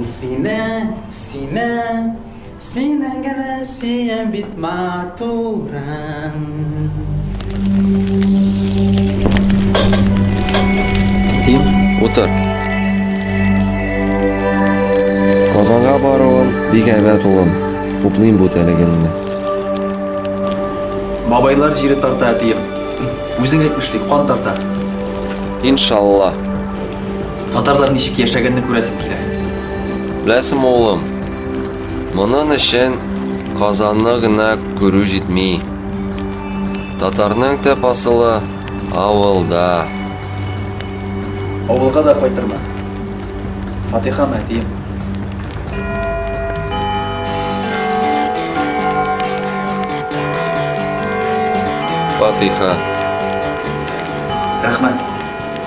Сине, сине, сине генә сөям бит матурым. Дим, утыр. Казанга баруын бик әйбәт улым. Хуплыйм бу телегеңне. Бабайлар җире тарта, әтием. Үзең әйтмешли, кан тарта. Иншалла. Татарлар ничек яшәгәнне күрәсем килә. Беләсем улым, монын өчен Казанны гына күрү җитми. Татарның төп асылы авылда. Авылга да кайтырмын. Фатиха мәтием. Фатиха. Рәхмәт.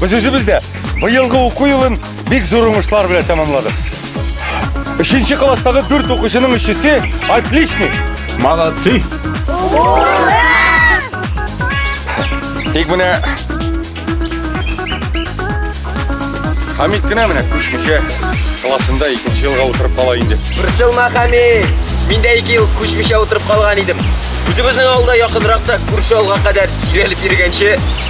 Без үзебез дә быелгы уку елын бик зур уңышлар белән тәмамладык. Өченче класстагы дүрт укучының өчесе отличный. Молодцы! Тик менә Хамид кенә менә күчмичә классында икенче елга утырып кала инде. Борчылма, Хамид. Мин дә ике ел күчмичә утырып калган идем. Үзебезнең авылда якынракта күрше авылга кадәр сөйрәлеп йөргәнче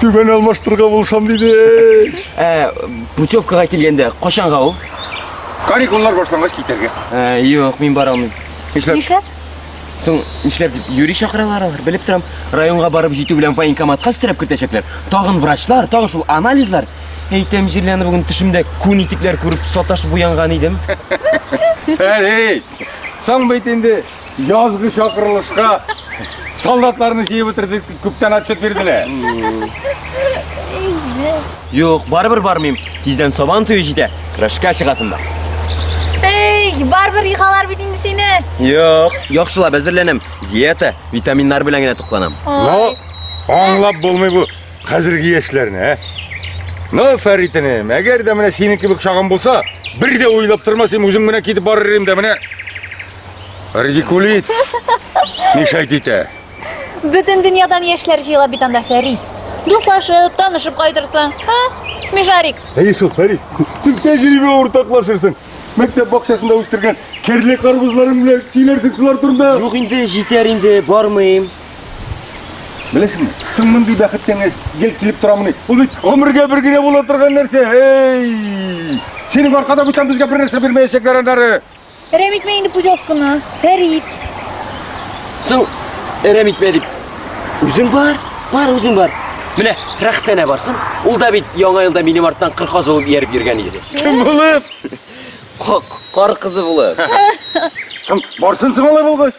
Түбән алмаштырга булышам диде. Ә, путевкага килгәндә качанга ул? Каникуллар башлангач китәргә. Ә, юк, мин бара алмыйм. Нишләп? Нишләп? Соң нишләп дип юри чакыралар алар? Белеп торам, районга барып җитү белән военкоматка өстерәп кертәчәкләр. Тагын врачлар, тагын шул анализлар. Әйтәм, җирләне бүген төшемдә күн итекләр күреп саташып уянган идем. Әй, соң бит инде Язгы чакырылышка солдатларны җыеп бетердек дип күптән отчет бирделәр. Юк, барыбер бармыйм. Тиздән сабан туе җитә. Көрәшкә чыгасым бар. Эй, барбер йыгалар бит инде сине. Юк, яхшылап әзерләнәм. Диета, витаминнар белән генә тукланам. Ну, аңлап булмый бу. Хәзерге яшьләрне, ә? Ну, Фәритенем, әгәр дә менә синең кебек чагым булса, бер дә уйлап тормас идем, үзем генә китеп барыр идем дә менә. Радикулит. Мишайт итә. Бөтен дөньядан яшьләр җыела бит анда Фәри. Дуслашып, танышып кайтырсың. Ха? Смешарик. Әйе шул, Фәрит. Син тәҗрибә уртаклашырсың. Мәктәп бакчасында үстергән керле карбызларың белән сөйләрсең шулар турында. Юк инде, җитәр инде, бармыйм. Беләсеңме? Соң мондый бәхет сиңа гел килеп торамыни? Ул бит гомергә бер генә була торган нәрсә. Эй! Синең аркада бүтән безгә бер нәрсә бирмәячәкләр аннары. Әрәм итмә инде путевканы, Фәрит. Соң әрәм итмә дип. Үзең бар, бар үзең бар. Менә Рәхсәнә барсын. Ул да бит яңа елда минем арттан кыр казылып ияреп йөргән иде. Кем булып? Кар кызы булып. Соң барсын соң алай булгач.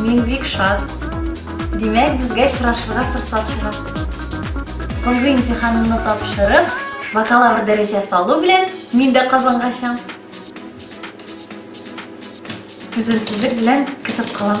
Мин бик шат. Димәк, безгә очрашырга форсат чыга. Соңгы имтиханымны тапшырып, бакалавр дәрәҗәсе алу белән мин дә Казанга чам. Түземсезлек белән көтеп калам.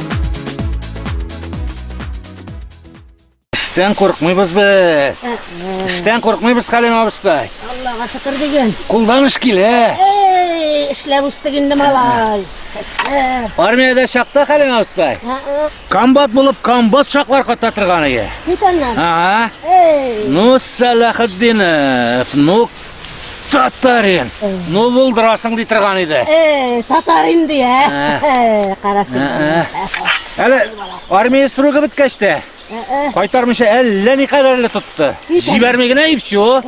Эштән курыкмыйбыз без. Эштән курыкмыйбыз Хәлим абыстай. Аллага шөкер диген. Кулдан эш килә. Эй, эшләп үстек инде малай. Армиядә чакта Хәлим абыстай. Комбат булып комбат чаклар ката торган ие. Бит аннан. Ага. Эй. Ну, Салахетдинов, ну Татарин! Ну, булдырасың ди торган иде. Эй, татарин ди, ә? Ә. Карасың. Ә, ә. Әле армия срогы беткәч тә, кайтармыйча әллә ни кадәрле тотты. Җибәрми генә и все.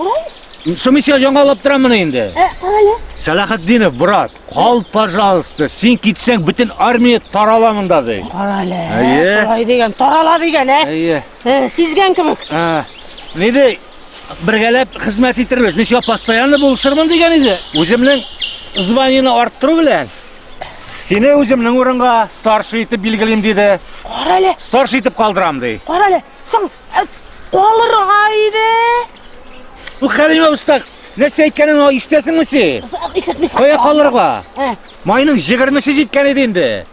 Сумисия яңалап торамын инде. Ә, карале. Сәлахетдинов, брат, кал, пожалуйста. Син китсәң, бөтен армия тарала монда ди. Карале. Әйе. Шулай дигән, тарала дигән, ә? Әйе. Э, Сизгән кебек. Ә. Ни ди? бергәләп хезмәт итербез. Мин шуңа постоянно булышырмын дигән иде. Үземнең званиене арттыру белән сине үземнең урынга старший итеп билгелим диде. Кара әле. Старший итеп калдырам ди. Кара әле. Соң э, калырга иде. Бу Хәлимә уста нәрсә әйткәнен ишетәсеңме син? Исәтмисең. Кая калырга? Майның 20-се җиткән иде инде.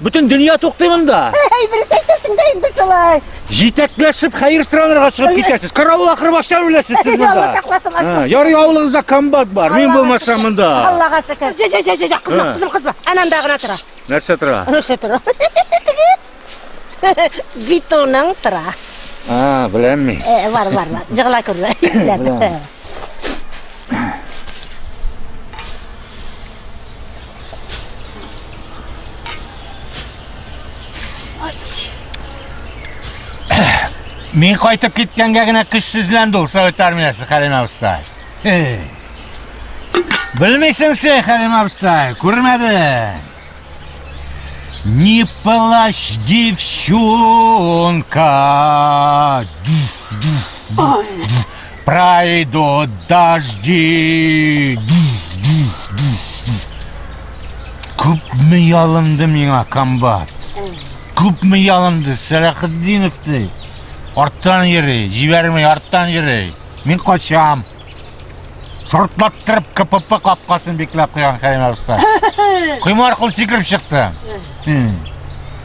Бөтен дөнья туктый монда. Әй, берсе әйтәсең дә инде шулай. Җитәкләшеп хәер сыранырга чыгып китәсез. Каравыл ахыры баштан үләсез сез монда. Алла сакласын, Ачка. Ә, Ярый авылыгызда комбат бар. Мин Аллага булмасам шөкер. монда. Аллага шөкер. Жә, жә, жә, жә, жә, кызма, Ә. кызма, кызма. Ананда гына тора. Нәрсә тора? Нәрсә тора? Бетоның тора. А, беләм мин. Э, Бар, бар, бар. Җыгыла күрмә. Беләм. Мин кайтып киткәнгә генә көчсезләнде ул совет армиясе, Хәлим абыстай. Белмисең син, Хәлим абыстай, күрмәдең. Не плачь, девчонка. Ой. Пройдут дожди! Күпме ялынды миңа комбат. Күпме ялынды Сәләхетдинов ди. Арттан йөри, җибәрмей, арттан йөри. Мин качам. Шортлаттырып КПП капкасын бикләп куйган Кәрим абыстай. Коймар кул сикереп чыкты.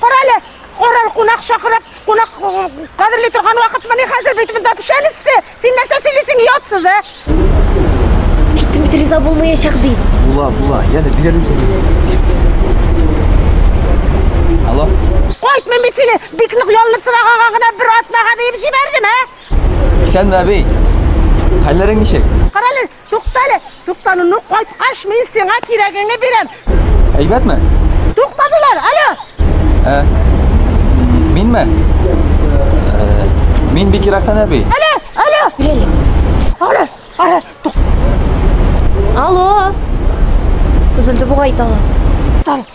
Карале, король кунак чакырып, кунак кадерли торган вакытмыни хәзер бит монда печән өсте. Син нәрсә сөйлисең, ятсыз, ә? Әйттем бит риза булмаячак ди. Була, була. Янә бирәле үзең. Алло. Кайтмыйм бит сине. Бик нык ялынып сораганга гына бер атнага диеп җибәрдем, ә? Исәнме, әби? Хәлләрең ничек? Карале, Туктале, туктануны кайткач мин сиңа кирәгеңне бирәм. Әйбәтме? Туктадылар, алло! Ә, минме? Ә, мин бик ерактан әби. Алло, алло! Беләле. Алло, алло, тук. Алло! Үзелде бугай таңы. Туктале.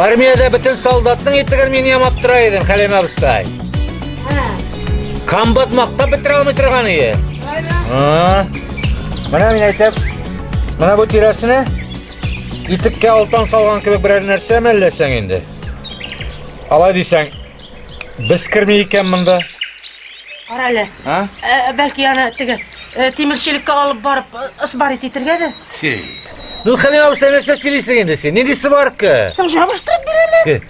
Армияда бөтен солдатның итеген мин ямап тора идем, Хәлимә абыстай. Комбат мактап бетерә алмый торган ие. Менә мин әйтәм, менә бу тирәсенә итеккә алтан салган кебек берәр нәрсә мәлләсәң инде. Алай дисәң, Без керми икән монда. Кара әле. А? Ә, бәлки аны теге э, тимерчелеккә алып барып э, ысбарит итергәдер. Ти. Ну, Хәлим абыйсы нәрсә сөйлисең инде син? Нинди сварка? Соң жабыштырып бирәләр.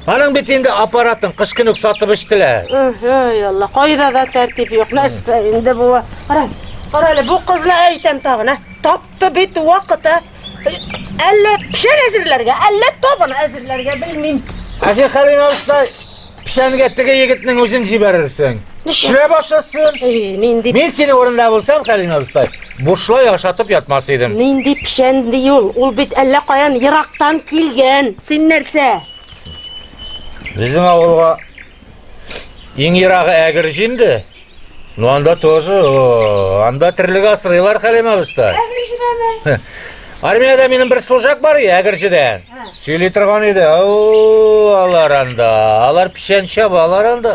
Аның бит инде аппаратын кыш көн үк сатып эчтеләр. Ой, Алла, кайда да тәртип юк. Нәрсә инде бу? Кара, кара әле, бу кызны әйтәм тагын, ә? Тап Ты бит вакыты әллә пешән әзерләргә, әллә табын әзерләргә белмим. Әҗи Хәлим абыстай, пешәнгә теге егетнең үзен җибәрерсең. Эшлә башласын. Эй, нинди Мин синең урында булсам, Хәлим абыстай, бушлай ашатып ятмас идем. нинди пешән ди ул? Ул бит әллә каян ерактан килгән. Син нәрсә? Безнең авылга Иң ерагы әгерҗ инде. Ну анда тоже, о, анда терлек асрыйлар Хәлимә абыстай. Әгерҗедәме? Армиядә минем бер служак бар иде, әгерҗедән. Сөйли торган иде. Ау, алар анда, алар печән чаба, алар анда.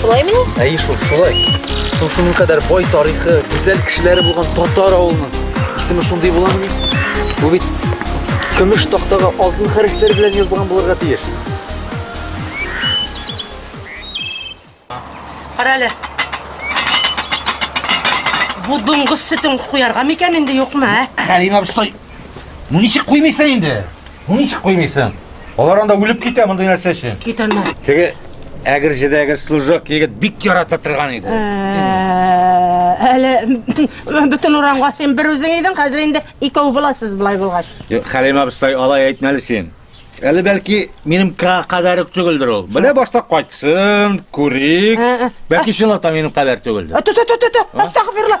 Шулаймыни? Әйе шул, шулай. Соң шуның кадәр бай тарихы, гүзәл кешеләре булган татар авылының исеме шундый буламыни? Бу бит көмеш тактага алтын хәрефләр белән язылган булырга тиеш. Кара әле. Бу дуңгыз сөтен куярга микән инде юкмы, ә? Хәлим абыстай, ну ничек куймыйсың инде? Ничек куймыйсың? Алар анда үлеп китә мондый нәрсә өчен. Китәләр. Теге әгерҗедәге служок егет бик ярата торган иде. Ә, Әле бөтен урамга син бер үзең идең, хәзер инде икәү буласыз былай булгач. Юк, Хәлим абыстай, алай әйтмәле син. Әле бәлки минем ка- кадәр үк түгелдер ул. Менә башта кайтсын, күрик. Ә, ә. Бәлки чынлап та минем кадәр түгелдер. Ту ту ту ту. Астагфирулла.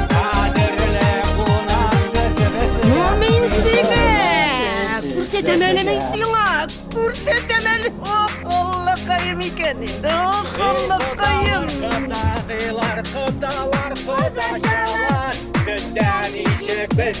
Күрсәтәмәлеме сиңа? Күрсәтәмәле! Ох, Аллакаем икән инде! Ох, Аллакаем! Кодагыйлар, кодалар, кодачалар, сездән ишек без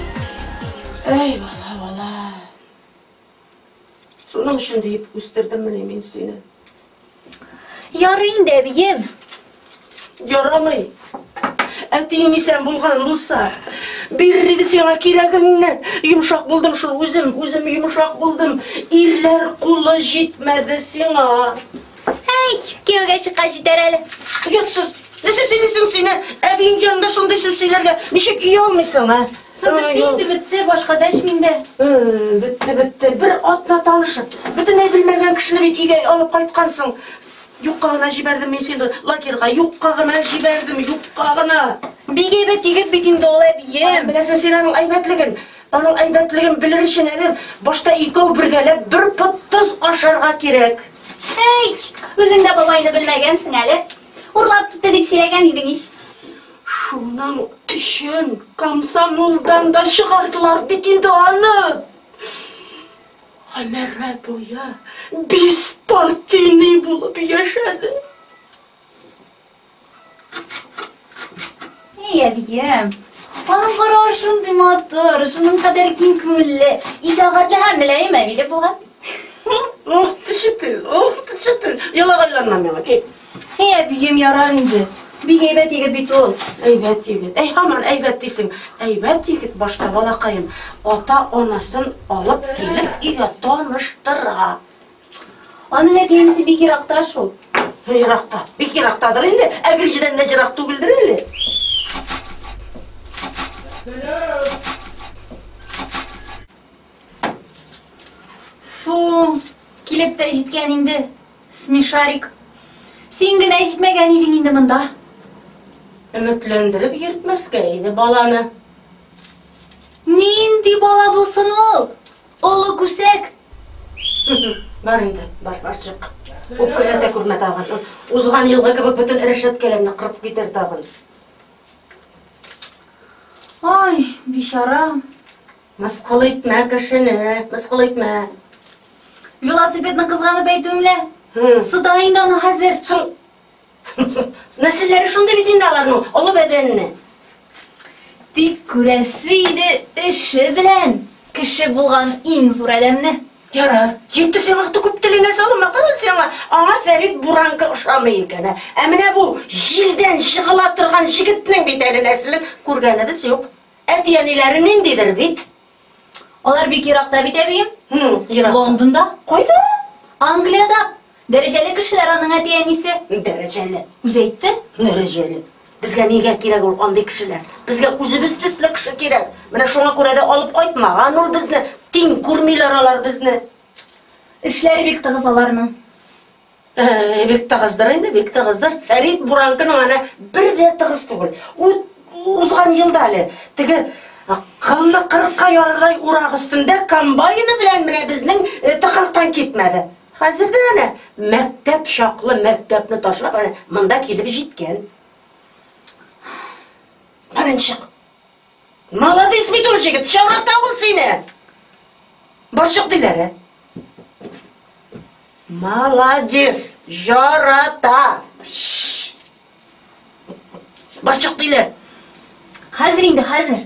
Әй, бала, бала. Шуның өчен диеп үстердем менә мин сине. Ярый инде, әбием. Ярамый. Әтиең исән булган булса, бирер иде сиңа кирәгеңне. Йомшак булдым шул үзем, үзем йомшак булдым. Ирләр кулы җитмәде сиңа. Әй, кияүгә чыккач җитәр әле. Оятсыз. Нәрсә сөйлисең син? Әбиең җанында шундый сүз сөйләргә ничек ия алмыйсың, а? Сынып инде бетте, башка дәшмим дә. Бетте, бетте. Бер атна танышып, бөтенләй белмәгән кешене бит өйгә алып кайткансың. Юкка гына җибәрдем мин сине лагерьга, юкка гына җибәрдем, юкка гына. Бик әйбәт егет бит инде ул әбием. Беләсең син аның әйбәтлеген. Аның әйбәтлеген белер өчен әле башта икәү бергәләп бер пот тоз ашарга кирәк. Әй, үзең дә бабайны белмәгәнсең әле. Урлап китте дип сөйләгән идең ич. Шуның өчен комсомолдан да чыгардылар бит инде аны. Гомере буе беспартийный булып яшәде. Әй, әбием, аның каравы шундый матур, шуның кадәр киң күңелле, итагатьле һәм мөлаем әбиле булган. Ох, төшетел, ох, төшетел. Елагайланма миңа, кит. Әй, әбием, ярар инде. Бик әйбәт егет бит ул. Әйбәт егет. Әй, һаман әйбәт дисең. Әйбәт егет башта балакаем. Ата-анасын алып килеп, өйгә таныштыра. Аның әти-әнисе бик еракта шул. Еракта, бик ерактадыр инде. Ә Гөлҗидән дә ерак түгелдер әле. Фу, килеп тә җиткән инде. Смешарик. Син генә җитмәгән идең инде монда. Өметләндереп йөртмәскә иде баланы. Нинди бала булсын ул? Олы күсәк! Бар инде, бар, бар чык. Үпкәләтә күрмә тагын. Узган елгы кебек бөтен рәшәткәләрне кырып китер тагын. Ай, бичара. Мыскыл итмә кешене, мыскыл итмә. Велосипедны кызганып әйтүемлә. Сыта инде аны хәзер. Соң Нәселләре шундый бит инде аларның, олы бәдәнле. Тик күрәсе иде эше белән кеше булган иң зур адәмне. Ярар, җитте сиңа аты күп теленә салма, кара сиңа, аңа Фәрит Буранкы ошамый икән. Ә менә бу җилдән җыгыла торган җегетнең бит әле нәселен күргәнебез юк. Әти-әниләре ниндидер бит? Алар бик еракта бит, әбием. Лондонда. Кайда? Англиядә. Дәрәҗәле кешеләр аның әти-әнисе. Дәрәҗәле. Үзе әйтте? Дәрәҗәле. Безгә нигә кирәк ул андый кешеләр? Безгә үзебез төсле кеше кирәк. Менә шуңа күрә дә алып кайтмаган ул безне. Тиң күрмиләр алар безне. Эшләре бик тыгыз аларның. Э, бик тыгыздыр инде, бик тыгыздыр. Фәрит Буранкының аны бер дә тыгыз түгел. Ут узган елда әле теге кылны кырыкка ярырдай урак өстендә комбайны белән менә безнең э, тыкрыктан китмәде. Хәзер дә әнә мәктәп чаклы мәктәпне ташлап әнә монда килеп җиткән. Борынчык. Молодец бит ул җегет, чарата ул сине. Борчык диләре. Молодец, жарата. Борчык диләр. Хәзер инде, хәзер.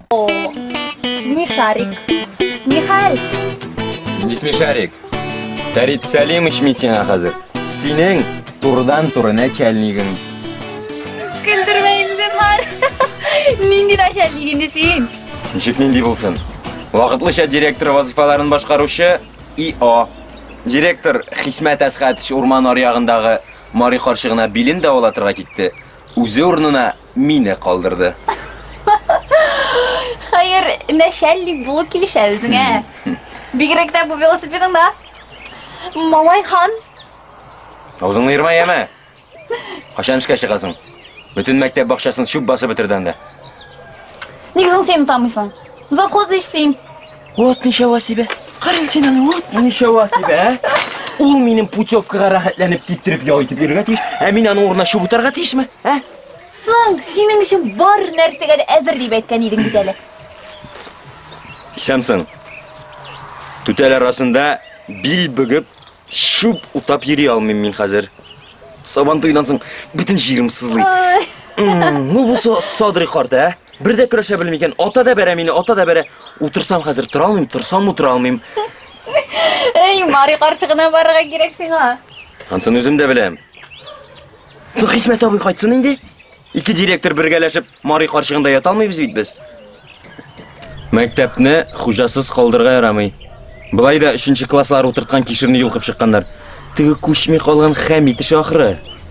О, смешарик. Михаль! Не смешарик. Фәрит Сәлимович мин сиңа хәзер. Синең турыдан-туры начальнигың. Көлдермә инде, бар. Нинди начальник инде син? Ничек нинди булсын? Вакытлыча директор вазифаларын башкаручы ИО. Директор Хисмәт Әсхәтович урман аръягындагы Мари карчыгына билен дәвалатырга китте. Үзе урынына Мине калдырды. Хәер, нәшәллик булып килешә үзеңә. Бигрәк тә бу велосипедыңда. Малай хан. Аузыңны ерма яме. Кашан эшкә чыгасың? Бөтен мәктәп бакчасын чүп басып бетердән дә. Ник соң син утамыйсың? Завхоз эшлим. Вот ничего себе! Карел син аны, вот ничего себе, ә? Ул минем путевкага рәхәтләнеп киптереп ял итеп йөрергә тиеш, ә мин аның урынына чүп утарга тиешме, ә? Соң, синең өчен бар нәрсәгә дә әзер дип әйткән идең бит әле. Исәмсең. Түтәл арасында бил бөгеп, чүп утап йөри алмыйм мин хәзер. Сабантуйдан соң бөтен җирем сызлый. Ну бу Садри карт, ә? Бер дә көрәшә белми икән. Ата да бәрә мине, ата да бәрә. Утырсам хәзер тора алмыйм, торсам утыра алмыйм. Эй, Мари карчыгына барырга кирәк сиңа. Ансын үзем дә беләм. Соң Хисмәт абый кайтсын инде. Ике директор бергәләшеп Мари карчыгында ята алмыйбыз бит без. Мәктәпне хуҗасыз калдырга ярамый. Былай да 3 класслар утырткан кишерне йолкып чыкканнар. Теге күчми калган хәм итеше ахры.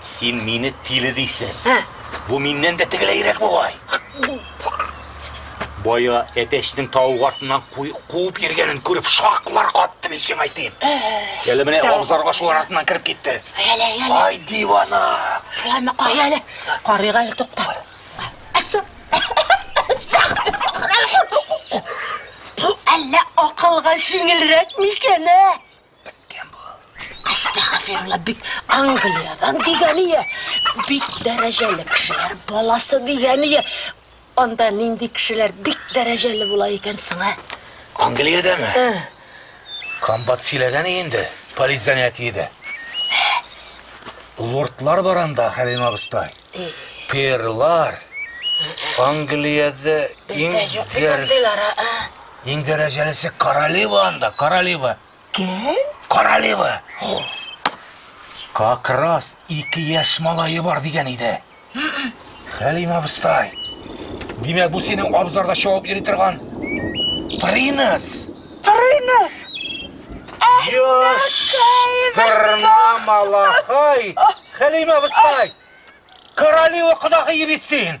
Син мине тиле дисең. Ә? Бу миннән дә тегеләйрәк бугай. Бая әтәчнең тавык артыннан куып йөргәнен күреп шаклар катты мин сиңа әйтим. Әле менә абзарга шулар артыннан кереп китте. Әле, әле. Ай дивана. Шулаймы кай әле? Карыйк әле тукта. Әллә акылга җиңелрәк микән, ә? Беткән бу. Астагфирулла, бит Англиядән дигәние. Бик дәрәҗәле кешеләр баласы дигәние. Анда нинди кешеләр бик дәрәҗәле була икән соң, ә? Англиядәме? Ә. Комбат сөйләгән инде, политзанятиедә. Лордлар бар анда, Хәлим абыстай. Перлар. Англиядә иң дәрәҗәле. Бездә юк бит андыйлар, ә? Иң дәрәҗәлесе королева анда, королева. Кем? Королева. Как раз ике яшь малае бар дигән иде. Хәлим абыстай. Димәк, бу синең абзарда чавып йөри торган Принес. Принес. Яшь тырна малахай. Хәлим абыстай. Королева кодагые бит син.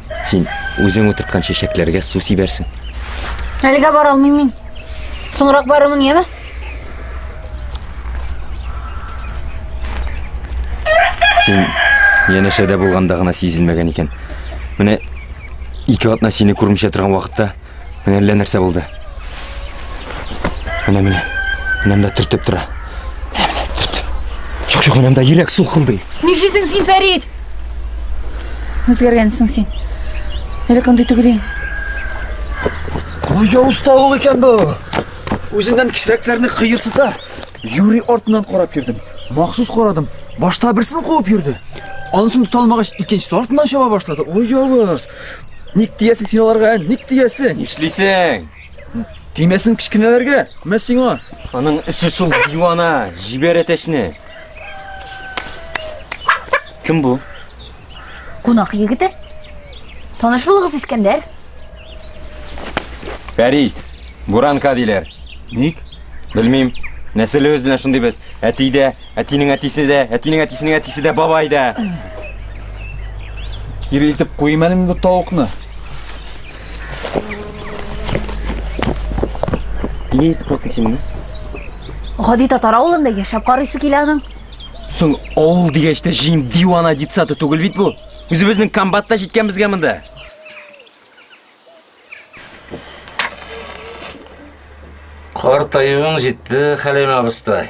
Син үзең утырткан чәчәкләргә су сибәрсең. Әлегә бара алмыйм мин. Соңрак барырмын, яме? Син янәшәдә булганда гына сизелмәгән икән. Менә ике атна сине күрмичә торган вакытта Менә әллә нәрсә булды. Менә менә. Менә монда төртеп тора. Менә менә төртеп. Чук чук менә монда йөрәк сулкылдый. Нишлисең син, Фәрид? Үзгәргәнсең син. Элек андый түгел идең. Ой, уста ул икән бу. Үзеннән кечерәкләрне кыерсыта. Юри артыннан карап йөрдем. Махсус карадым. Башта берсен куып йөрде. Анысын тота алмагач, икенчесе артыннан чаба башлады. Ой, явыз. Ник тиясең син аларга? Ник тиясең? Нишлисең? Тимәсен кечкенәләргә. Мә сиңа. Аның эше шул дивана, җибәр әтәчне. Кем бу? Кунак егете. Таныш булыгыз, Искәндәр. Фәрид, Буранка диләр. Ник? Белмим. Нәселебез белән шундый без. Әтидә Әтинең әтисе дә, әтинең әтисенең әтисе дә бабай да. Кире илтеп куйым әле бу тавыкны. Нигә илтеп куйдың син моны? Гади татар авылында яшәп карыйсы килә аның. Соң авыл дигәч тә җин дивана детсаты түгел бит бу. Үзебезнең комбатта җиткәнбезгә монда. Картаюың җитте, Хәлим абыстай.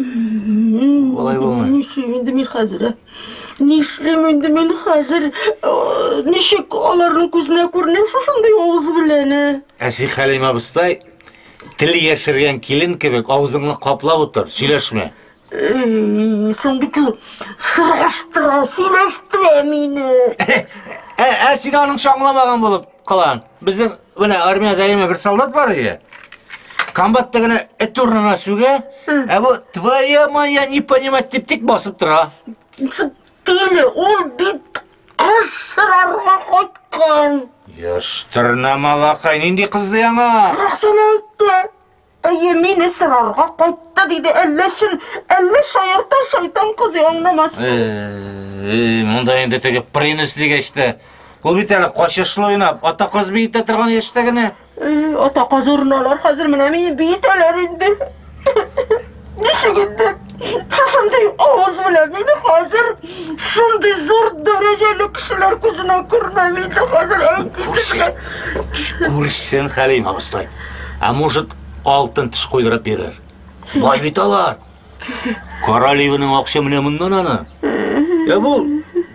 Болай булмый. Нишлим инде мин хәзер? Нишлим инде мин хәзер? Ничек аларның күзенә күренеп шушындый авыз белән? Әси Хәлим абыстай тел яшергән килен кебек авызыңны каплап утыр, сөйләшмә. Шундый кил сыраштыра, сөйләштә мине. Ә син аның шаңламаган булып калаң. Безнең менә армиядә яме бер солдат бар иде. Комбатта гына эт урынына сүгә, ә бу твоя моя не понимать дип тик басып тора. Тиле, ул бит кыз сорарга кайткан. Яшь тырнамалакай, нинди кызды яңа? Рәсен әйтте. Әйе, мине сорарга кайтты, диде әлләчын, әллә шаярта шайтан кызы аңламас. Эй, монда инде теге принес дигәч тә, ул бит әле качышлы уйнап, ата каз биетә торган яшьтә генә. Ата каз урыналар хәзер менә мине биетәләр инде. Ничек инде шундый авыз белән мине хәзер шундый зур дәрәҗәле кешеләр күзенә күрмәм инде хәзер әйтмисеңә. Күрсен Хәлим абыстай. Ә может алтын теш куйдырып бирер. Бай бит алар. Королеваның акча менә моннан аны. Ә бу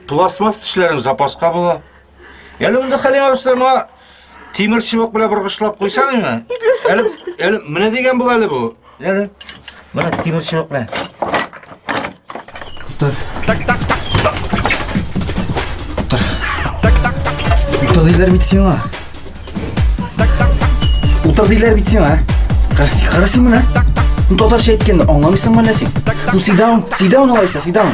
пластмасс тешләрең запаска була. Әле монда Хәлим абыстай моңа тимер чыбык белән боргышлап куйсаң инде. Әле әле менә дигән бул әле бу. Әле менә тимер чыбык белән. Тутар. Так так так. Тутар. Так так так. Утыр диләр бит сиңа. Так так так. Утыр диләр бит сиңа. Карасың, карасың менә. Так так. Ну татарча әйткәндә аңламыйсыңмы әллә син? Ну сидаун, сидаун алайса, сидаун.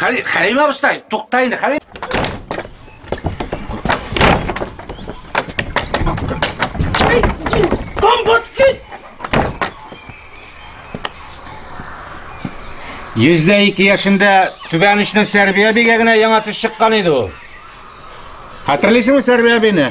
Хәли, Хәлим абыстай, тукта инде, Хәлим. Йөздә ике яшендә түбән очның Сәрбия бигәгенә яңа төш чыккан иде ул. Хәтерлисеңме Сәрбия бине?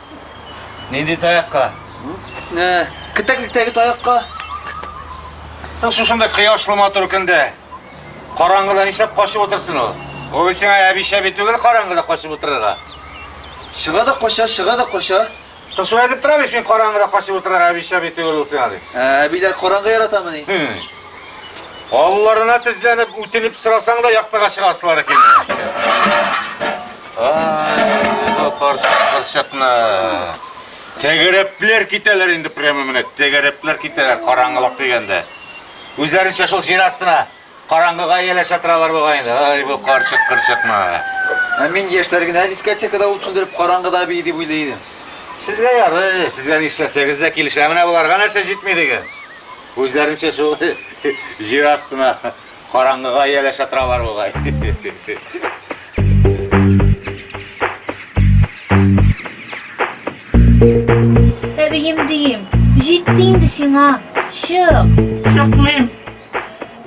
Нинди таякка? Кетәклектәге таякка. Соң шушында кояшлы матур көндә. Караңгыда нишләп качып утырсын ул? Ул сиңа әбишә бит түгел караңгыда качып утырырга. Чыга да кача, чыга да кача. Соң шулай дип тора бит мин караңгыда качып утырырга әбишә бит түгел ул сиңа дип. Ә, әбиләр караңгы яратамыни? Алларына тезләнеп, үтенеп сорасаң да яктыга чыгасылары килми. Ай, карчыкны. Тәгәрәпләр китәләр инде прямо менә, тәгәрәпләр китәләр караңгылык дигәндә. Үзләренчә шул җир астына караңгыга ияләшә торалар бугай инде. Ай, бу карчык кырчыкны. Ә мин яшьләр генә дискотекада ут сүндереп караңгыда бии дип уйлый идем. Сезгә ярый, сезгә нишләсәгез дә килешә. Менә боларга нәрсә җитми диген. Үзләренчә шул җир астына караңгыга ияләшә торалар бугай. Әбием дием, җитте инде сиңа, чык! Чыкмыйм.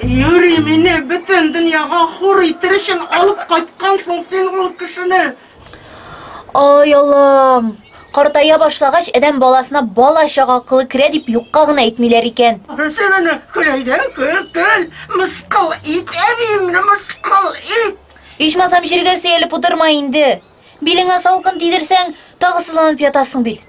Юри мине бөтен дөньяга хур итер өчен алып кайткансың син ул кешене. Ай Аллам! Картая башлагач, адәм баласына бала чага акылы керә дип юкка гына әйтмиләр икән. Син аны көләйдән көл, көл, мыскыл ит, әбиемне мыскыл ит! Ичмасам җиргә сөялеп утырма инде. Билеңә салкын тидерсәң, тагы сызланып ятасың бит.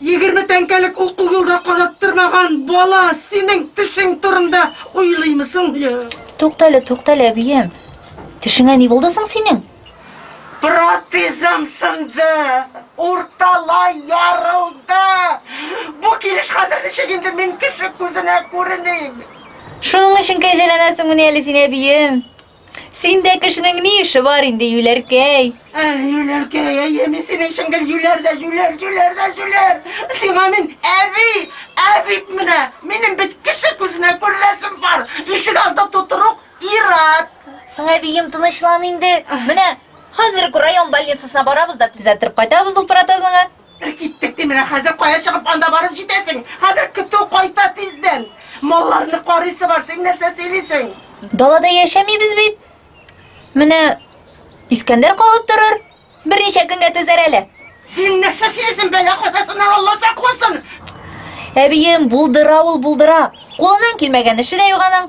Егерме тәңкәлек уку юлда караттырмаган бала синең тешең турында уйлыймы соң? Туктале, туктале, әбием. Тешеңә ни булды соң синең? Протезым сынды, урталай ярылды. Бу килеш хәзер ничек инде мин кеше күзенә күреним? Шуның өчен кәҗәләнәсеңмени әле син, әбием? Синдә кешенең ни эше бар инде, юләркәй? Ә, юләркәй, әйе, мин синең өчен гел юләр дә юләр, юләр дә юләр. Сиңа мин әби, ә бит менә минем бит кеше күзенә күренәсем бар. Ишек алды тутырук ир-ат. Соң, әбием, тынычлан инде. Менә хәзер үк район больницасына барабыз да төзәттереп кайтабыз ул протезыңа. Бер киттек, ди, менә хәзер кая чыгып анда барып җитәсең? Хәзер көтү кайта тиздән. Малларны карыйсы бар, син нәрсә сөйлисең? Далада яшәмибез бит. Менә Искәндәр калып торыр. Берничә көнгә төзәр әле. Син нәрсә сөйлисең, бәла казасыннан Алла сакласын. Әбием, булдыра ул, булдыра. Кулыннан килмәгән эше дә юк аның.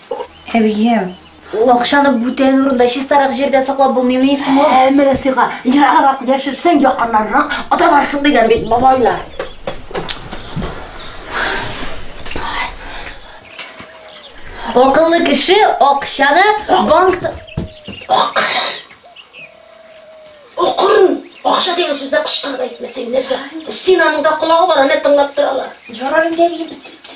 Әбием, акчаны бүтән урында, чистарак җирдә саклап булмыймыни соң ул? Ә менә сиңа ераграк яшерсәң, якыннанрак ата барсын дигән бит бабайлар. Акыллы кеше акчаны банкта Акырын! Акча дигән сүзне кычкырып әйтмәсәң нәрсә? Стенаныңда колагы бар, аны тыңлап торалар. Ярар инде әбием, бетте, бетте.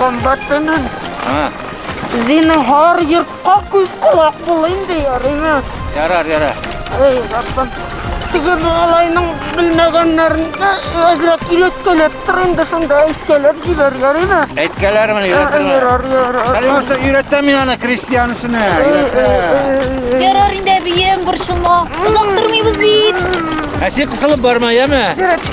Комбатының. А. Зинһар йортка күз колак бул инде, ярыймы? Ярар, ярар. Эй, Раббым. Теге малайның белмәгәннәрен әзрәк иләткәләп тор инде шунда әйткәләп җибәр, ярыймы? Әйткәләрмен, э, өйрәтермен. Ярар, ярар. Хәлимәсә өйрәтә мин аны крестьянсына. Э, э, ярар инде, бием, борчылма. Озак тормыйбыз бит. Ә син кысылып барма, яме? Ярар.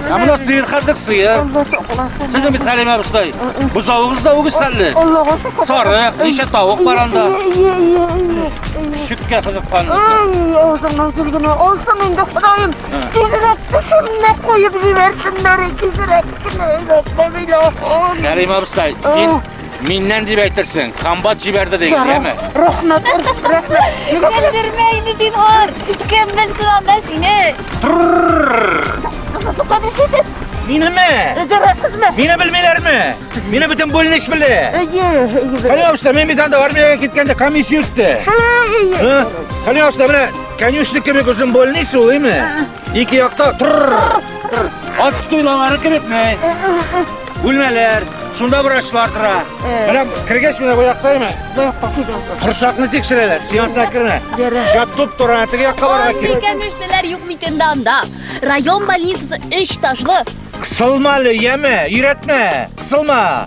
Ә менә сыер хәтлек сыер. Сезнең бит Хәлимә абыстай. Бозавыгыз да үгез хәтле. Сары, ничә тавык бар анда? Шүккә кызыккан. Ай, авызыңнан килгене алсын инде, Ходаем. Тизрәк тешемне куеп җибәрсеннәр, тизрәк кенә. Хәлимә абыстай, син Миннән дип әйтерсең, комбат җибәрде дигән, яме? Рәхмәт, рәхмәт. Көлдермә инде Динар. Кем белсен анда сине? Минеме? Дөрәсезме? Мине белмиләрме? Мине бөтен бүлнеш белде. Әйе, әйе. Калявышта мин бит анда армиягә киткәндә комиссия үтте. Әйе. Калявышта менә конюшник кебек озын бүлнеш ул, име? Ике якта тырр. Ат стуйлалары кебекме? Бүлмәләр, шунда врачлар тора. Менә кергәч менә бу якта име? Бу якта кидәм. Корсакны тикшерәләр, сеансына кермә. Шап туп тора, теге якка барырга Андый кирәк. кәнештеләр юк микән дә анда. Район больницасы өч ташлы. Кысылма әле, яме, өйрәтмә. Кысылма.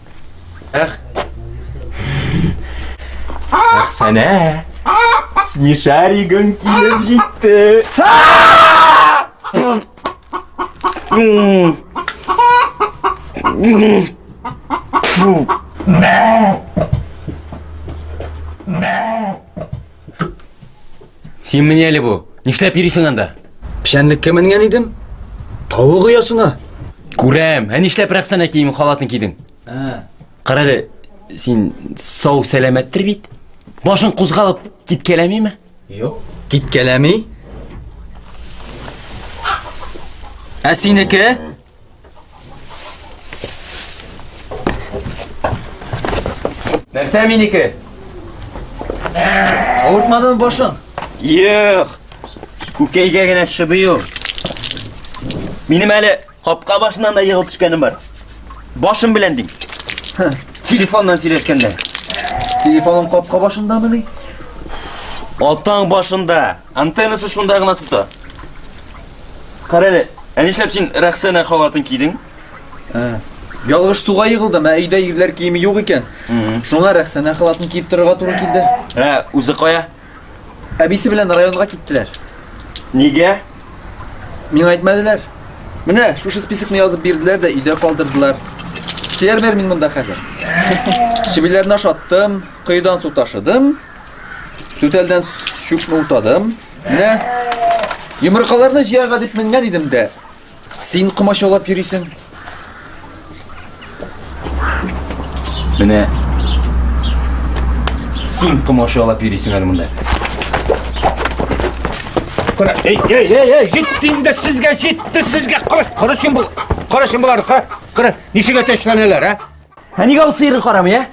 Эх. Эх, сәнә. Смешаригың килеп җитте. Фу. Син менә әле бу. Нишләп йөрисең анда? Печәнлеккә менгән идем. Тавык оясына. Күрәм. Ә нишләп Рәхсәнә киеме халатын кидең? Ә. Кара әле, син сау сәламәттер бит? Башың кузгалып киткәләмиме? Юк. Киткәләми. Ә синеке? Нәрсә минеке? Авыртмадымы башың? Юк. Күкәйгә генә шыдый ул. Минем әле капка башыннан да егылып төшкәнем бар. Башым белән дим. Телефоннан сөйләшкәндә. Телефоның капка башындамы ни? Атаң башында. Антеннасы шунда гына тота. Карале, ә нишләп син Рәхсәнә халатын кидең? Ә. Ялгыш суга егылдым, ә өйдә ирләр киеме юк икән. Шуңа Рәхсәнә халатын киеп торырга туры килде. Ә үзе кая? Әбисе белән районга киттеләр. Нигә? Миңа әйтмәделәр. Менә шушы списокны язып бирделәр дә өйдә калдырдылар. Фермер мин монда хәзер. Чебиләрне ашаттым, коедан су ташыдым, түтәлдән чүпне утадым. Менә йомыркаларны җыярга дип менгән идем дә. Син комачаулап йөрисең. Менә син комачаулап йөрисең әле монда. Кара, эй, эй, эй, эй, җитте инде сезгә, җитте сезгә. Кара, кара син бул. Кара син булар, кара. Кара, ничек әтәчләнәләр, а? Ә нигә ул сыйры карамый, ә?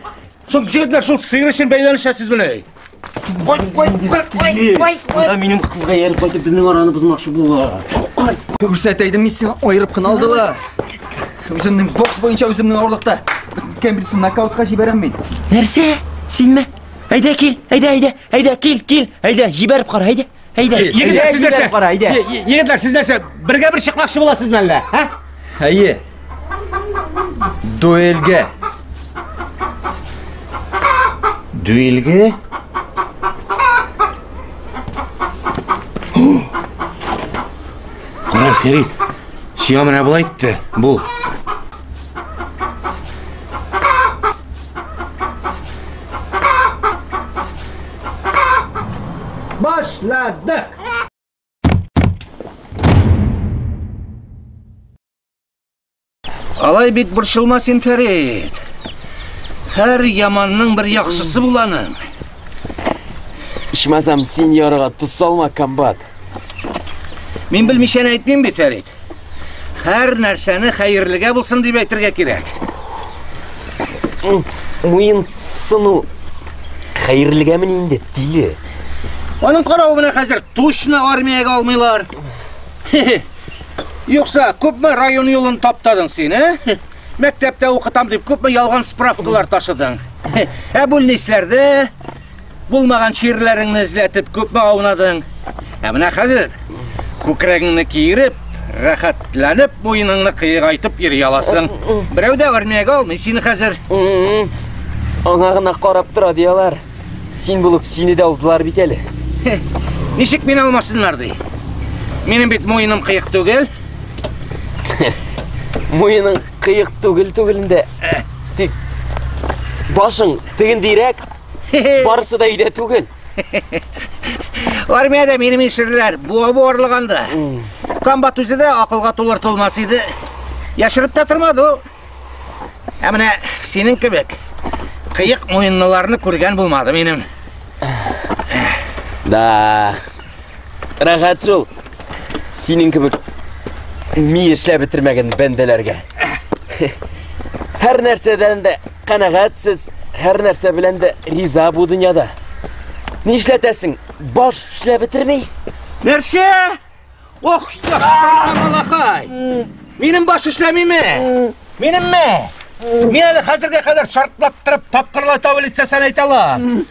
Соң җегетләр шул сыйры өчен бәйләнешәсез менә. Кой, кой, кой, кой, кой, кой. Да минем кызга ярып кайтып безнең араны бозмакчы булалар. Күрсәтәйдем мин сиңа аерып кына алдылар. Үземнең бокс буенча үземнең авырлыкта. Беткән бирсен нокаутка җибәрәм мин. Нәрсә? Синме? Әйдә кил, әйдә, әйдә, әйдә кил, кил, әйдә җибәреп кара, әйдә. Әйдә, егетләр сез нәрсә? Кара, әйдә. Егетләр сез нәрсә? Бергә бер чыкмакчы буласыз мәллә? Һә? Әйе. Дуэльгә. Дуэльгә? Кара, Фәрит. Сиңа менә булай итте. Бу. Başladık. Алай бит борчылма син, Фәрит. Һәр яманның бер яхшысы буланың. Ичмасам, син ярыга тоз салма, комбат. Мин белмичәне әйтмим бит, Фәрит. Һәр нәрсәне хәерлегә булсын дип әйтергә кирәк. Муен сыну хәерлегәме инде, тиле? Аның каравы менә хәзер точно армиягә алмыйлар. Юкса, күпме район юлын таптадың син, ә? Э? Мәктәптә укытам дип күпме ялган справкалар ташыдың. Ә бүлнисләрдә Булмаган чирләреңне эзләтеп күпме аунадың? Ә менә хәзер күкрәгеңне киереп, рәхәтләнеп муеныңны кыегайтып йөри аласың. Берәү дә армиягә алмый сине хәзер. Аңа гына карап тора дияләр. Син булып сине дә алдылар бит әле. Ничек мин алмасыннар ди? Минем бит муеным кыек түгел. Муеның кыек түгел түгелендә. Тик башың тегендирәк. Барысы да өйдә түгел. Армиядә минем ишерләр буа буарлык анда. Комбат үзе дә акылга тулыр тулмас иде. Яшереп тә тормады ул. Ә менә синең кебек кыек муенлыларны күргән булмады минем. Да. Рәхәт шул. Синең кебек ми эшләп бетермәгән бәндәләргә. Һәр нәрсәдән дә Канәгатьсез, һәр нәрсә белән дә риза бу дөньяда. Нишләтәсең? Баш эшләп бетерми. Нәрсә? Ох, малахай! Минем баш эшләмиме? Минемме? Мин әле хәзергә кадәр шартлаттырып тапкырлай табылыйт сәсән әйтәләр.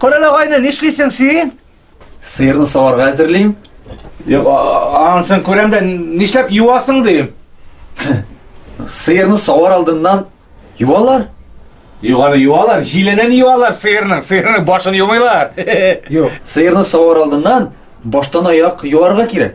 Корал агайны нишлисең син? Сыерны саварга әзерлим. Юк, ансын күрәм дә нишләп юасың дим. Сыерны савар алдыннан юалар. Юганы юалар, җиленен юалар сыерның, сыерның башын юмыйлар. Юк, сыерны савар алдыннан баштан аяк юарга кирәк.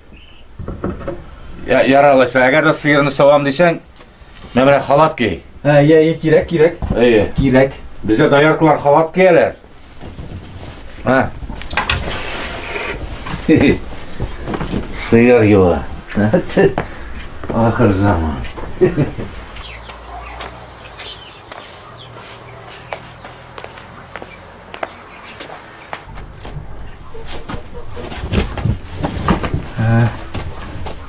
Я, яралайса, әгәр дә сыерны савам дисәң, менә менә халат кей. Ә, я, я, кирәк, кирәк. Әйе. Кирәк. Бездә дояркалар халат кияләр. Ә. Сыер юа. Ахыр заман. Ә,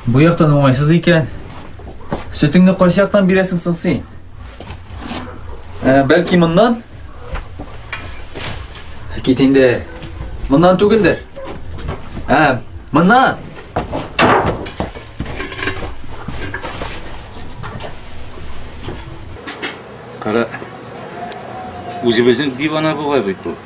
бу яктан уңайсыз икән. Сөтеңне кайсы яктан бирәсең соң син? Ә, бәлки моннан? Кит инде. Моннан түгелдер. Ә, моннан. Кара. Үзебезнең дивана бугай бит бу.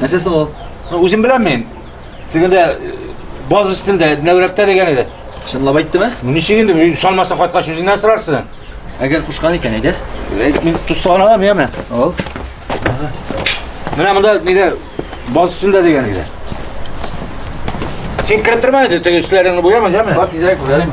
Нәрсә соң ул? Ну, үзем беләм мин. Тегендә э, баз өстендә нәүрәптә дигән иде. Чынлап әйттеме? Ну, ничек инде, ышанмасаң кайткач үзеннән сорарсың. Әгәр кушкан икән, әйдә. Мин тустагын алам, яме. Ал. Менә монда нидә баз өстендә дигән иде. Син кереп торма инде, теге өсләреңне буяма, яме. Бар тизрәк күрәлим.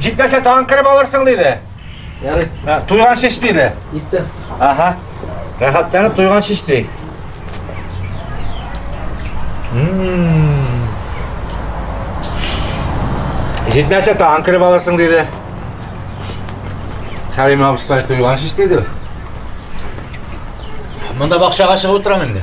Җитмәсә тагын кереп алырсың диде. Ярый. Туйган шеш диде. Итте. Аха. Рәхәтләнеп туйган шеш ди. Җитмәсә тагын кереп алырсың диде. Хәлим абыстай туйган шеш диде. Монда бакчага чыгып утырам инде.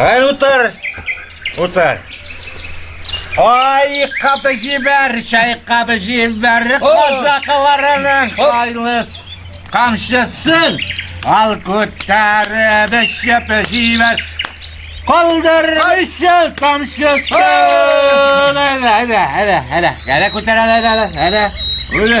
Әл утыр! Утыр! Ай, кабы җибәр, чай кабы җибәр, казакыларының кайлыс камшысын ал күтәреп эчеп җибәр. Калдыр өчен тамшысын. Әлә, әлә, әлә, әлә, әлә күтәрә, әлә, әлә, әлә. Үле,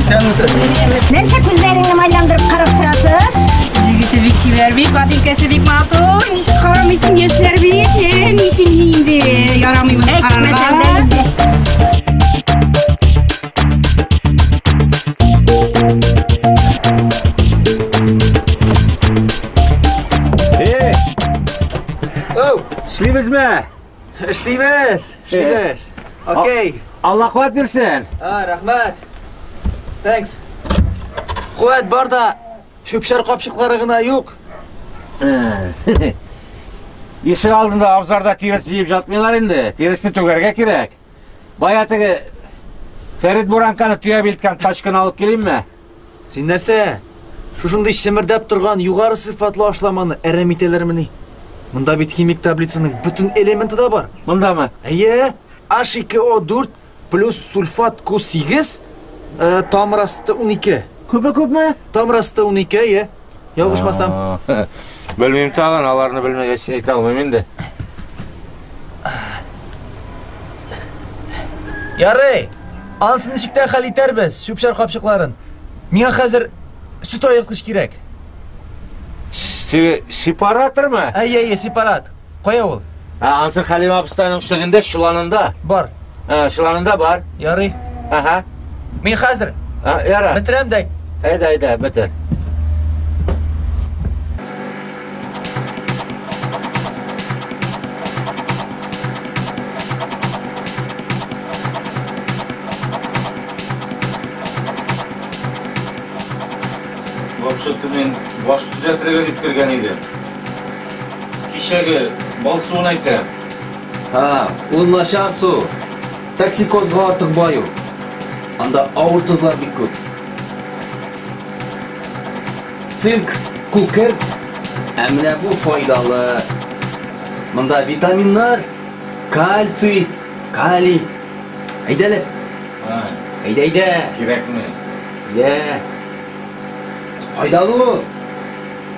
Исәнмесез. Нәрсә күзләреңне майландырып карап торасың? Җегете бик чибәр бит, бабикәсе бик матур. Ничек карамыйсың яшьләр бит? Э, Ничек инде? Ярамый моны карарга. Эй! Оу, эшлибезме? Эшлибез, эшлибез. Окей. Алла куәт бирсен. А, рәхмәт. Thanks. Куәт бар да, чүпшәр капчыклары гына юк. Ишек алдында абзарда тирес җыеп жатмыйлар инде. Тиресне түгәргә кирәк. Бая теге Фәрит Буранканы төяп илткән тачканы алып килимме? Син нәрсә? Шушындый шемердәп торган югары сыйфатлы ашламаны әрәм итәләрмени? Монда бит химик таблицаның бөтен элементы да бар. Мондамы? Әйе, H2O4 плюс сульфат Q8, э, тамыр асты 12. Күпме күпме? Тамыр асты 12, әйе. Ялгышмасам. Белмим тагын, аларны белмәгәч әйтә алмыйм инде. Ярый. Ансын ничектә хәл итәрбез, шүпшәр капчыкларын. Миңа хәзер сөт аерткыч кирәк. Сепаратормы? Әйе, әйе, сепарат. Кая ул? Ә, ансын Хәлимә абыстайның шөгендә чыланында. Бар. Ә, чыланында бар. Ярый. Ага. Мин хәзер. Ә, яра. Бетерәм дә. Әйдә, әйдә, бетер. Вообще-то мин баш төзәтергә дип кергән идем. Кичәге бал суын әйтә. Һа, ул начар су. Токсикозга артык бай ул. Анда авыр тозлар бик күп. Цинк, күкерт, ә менә бу файдалы. Монда витаминнар, кальций, калий. Әйдәле. Ай, Әйдә, әйдә. кирәкме? Йә. Файдалы ул.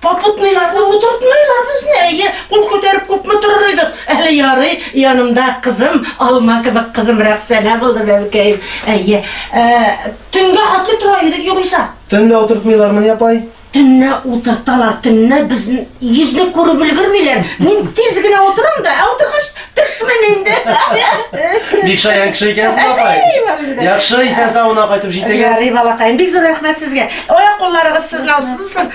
Попутныйлар, ну утыртмыйлар безне, әйе, кул күтәреп күпме торыр идек. Әле ярый, янымда кызым, алма кебек кызым Рәхсәнә булды бәбкәем. Әйе, э, төнгә атлы тора идек югыйса. Төнлә утыртмыйлармыни, апай? Төнлә утырталар, төнлә безне йөзне күреп өлгермиләр. Мин тиз генә утырам да, ә утыргач төшмим инде. Бик шаян кеше икәнсез, апай. Яхшы, исән-сау гына кайтып җитегез. Ярый, балакаем, бик зур рәхмәт сезгә. Аяк-кулларыгыз сызлаусыз булсын.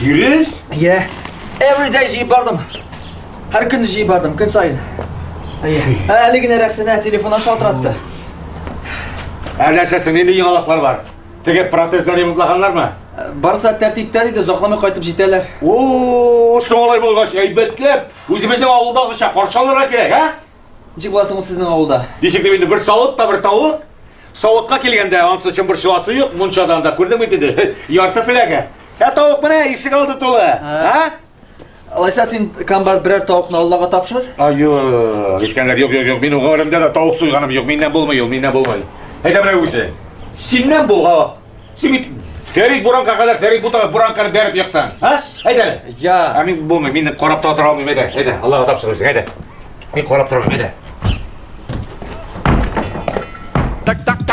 Дөрес? Йә. Every day җыеп бардым. Һәр көнне җыеп бардым, көн саен. Ә әле генә Рәхсәнә телефоннан шалтыратты. Әлләшәсең, нинди яңалыклар бар? Теге протезлар ремонтлаганнармы? Барса тәртиптә диде, озакламый кайтып җитәләр. О, солай булгач, әйбәтләп. Үзебезнең авылдагыча каршыларга кирәк, а? Ничек буласың ул сезнең авылда? Ничек дип инде бер савыт та бер тавык? Савытка килгәндә, ансы чымбыр чыласы юк, мунчадан да күрдең бит инде. Ярты фләгә. Ә тавык менә ишек алды тулы. Ә? Алайса син комбат берәр тавыкны Аллага тапшыр. Аю, Искәндәр, юк, юк, юк. Мин гомеремдә дә тавык суйганым юк. Миннән булмый ул, миннән булмый. Әйдә менә үзе. Синнән булга Син бит Фәрит Буранка кадәр Фәрит Бутага Буранканы бәреп яктан. Ха? Әйдә әле. Я. Ә мин булмый, мин карап та тора алмыйм, әйдә. Әйдә, Аллага тапшыр үзең, әйдә. Мин карап торам, әйдә. Так, так, так.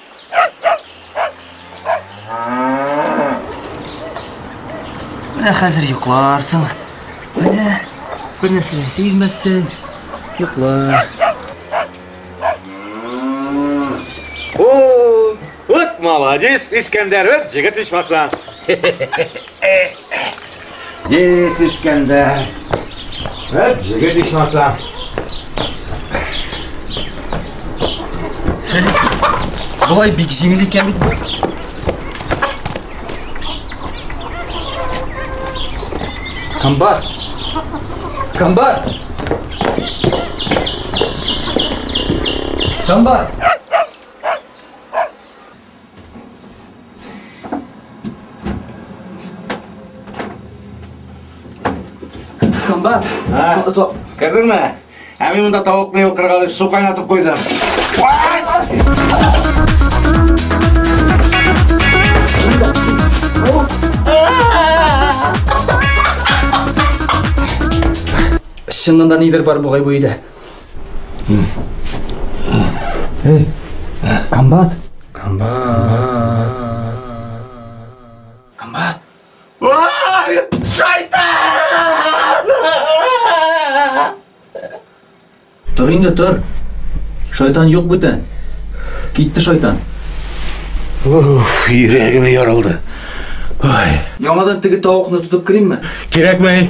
Менә хәзер йокларсың. Менә бер нәрсә дә сизмәссең. Йокла. О, вот молодец, Искәндәров, җегет ичмаса. Дис ишкәндә. Вәт, җегет ишмаса. Болай бик җиңел икән бит бу. Комбат. Комбат. Комбат. Комбат, топ. Кердеңме? Ә мин монда тавыкны йылкырга дип су кайнатып куйдым. Чыннан да нидер бар бугай бу өйдә. Эй, комбат! Комбат! Комбат! Шайтан! Тор инде, тор. Шайтан юк бүтән. Китте шайтан. Уф, йөрәгем ярылды. Ой. Яңадан теге тавыкны тотып керимме? Кирәкмәй.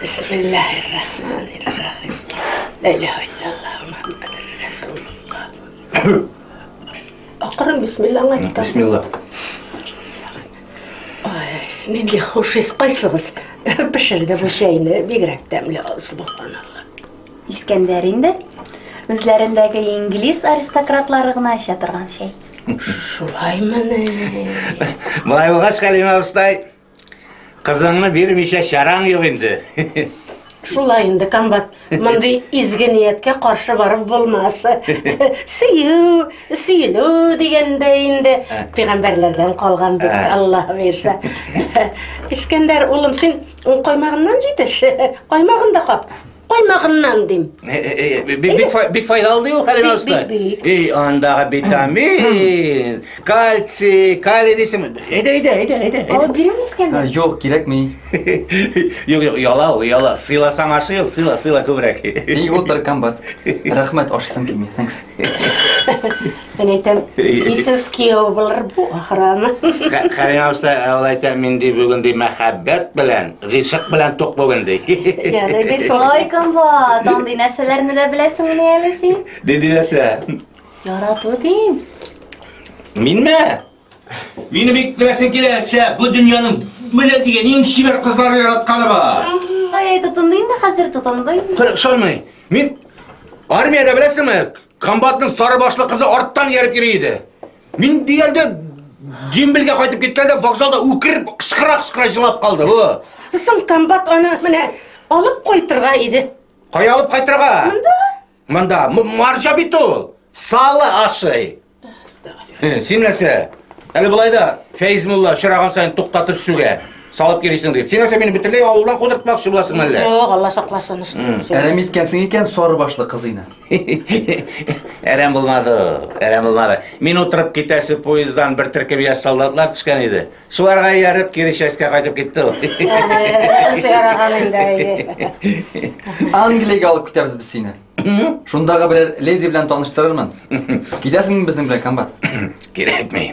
Бисмиллаһир-рахманир-рахим. Ла илаһа иллаллаһ Мухаммадур Расулуллаһ. Акырын бисмиллаңа китә. Бисмилла. Ай, нинди хуш ис кайсыгыз? Пешерде бу чәйне, бигрәк тәмле, субханалла. Искәндәр инде. Үзләрендәге инглиз аристократлары гына эчә торган чәй. Шулаймыни? Малай булгач, Хәлимә абыстай, Кызыңны бирмичә чараң юк инде. Шулай инде, комбат. Мондый изге нияткә каршы барып булмас. Сөю, сөйлү дигәндә инде пигамбәрләрдән калган бит, Алла бирсә. Искәндәр, улым, син коймагыннан җитеш, коймагын да кап. Каймагыннан дим. Э, э, э, бик файдалы ди ул Хәлимә уста. И, андагы витамин, кальций, калий дисең. Әйдә, әйдә, әйдә, әйдә. Алып бирәме Искәндәр? Юк, кирәкми. Юк, юк, яла ул, яла. Сыйласаң ашы юк, сыйла, сыйла күбрәк. Ни утыр комбат. Рәхмәт, ашысым килми. Thanks. Мен әйтәм, исез кияу булыр бу, ахыраны. Хәлен алышта, ул әйтә, мин ди бүген ди мәхәббәт белән, ризык белән тук бүген ди. Яны бит солай. Ой, комбат, андый нәрсәләрне дә беләсең менә әле син. Диди нәрсә? Ярату дим. Минме? Мине бик беләсең килә, әсә, бу дөньяның менә дигән иң чибәр кызлары яратканы бар. Ай, тотындым да хәзер тотындым. Кыр, шонмый. Мин армиядә беләсеңме? Комбатның сары башлы кызы арттан ияреп йөри иде. Мин диярдә Гимбелгә кайтып киткәндә вокзалда үкереп, кычкыра-кычкыра җылап калды. О. Соң комбат аны менә алып кайтырга иде. Кая алып кайтырга? Монда. Монда. Марҗа бит ул. Салы ашый. Син нәрсә? Әле болай да Фәиз мулла очраган сайын туктатып сүгә. Салып йөрисең дип. Син нәрсә мине бөтенләй авылдан кудыртмакчы буласың әллә? Юк, Алла сакласын. Әрәм иткәнсең икән сары башлы кызыйны. Әрәм булмады, әрәм булмады. Мин утырып китәсе поездан бер төркем яшь солдатлар төшкән иде. Шуларга ияреп кире частька кайтып китте ул. Яраган инде. Англиягә алып китәбез без сине. Шундагы берәр леди белән таныштырырмын. Китәсеңме безнең белән, комбат? Кирәкми.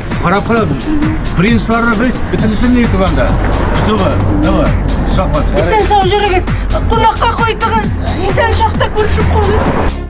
Карап кара, принцларыбыз бөтенесен ни итеп анда. Чтобы, давай, шахмат. Исән сау жүрегез, кунакка кайтыгыз, исән шахта күршеп калыйк.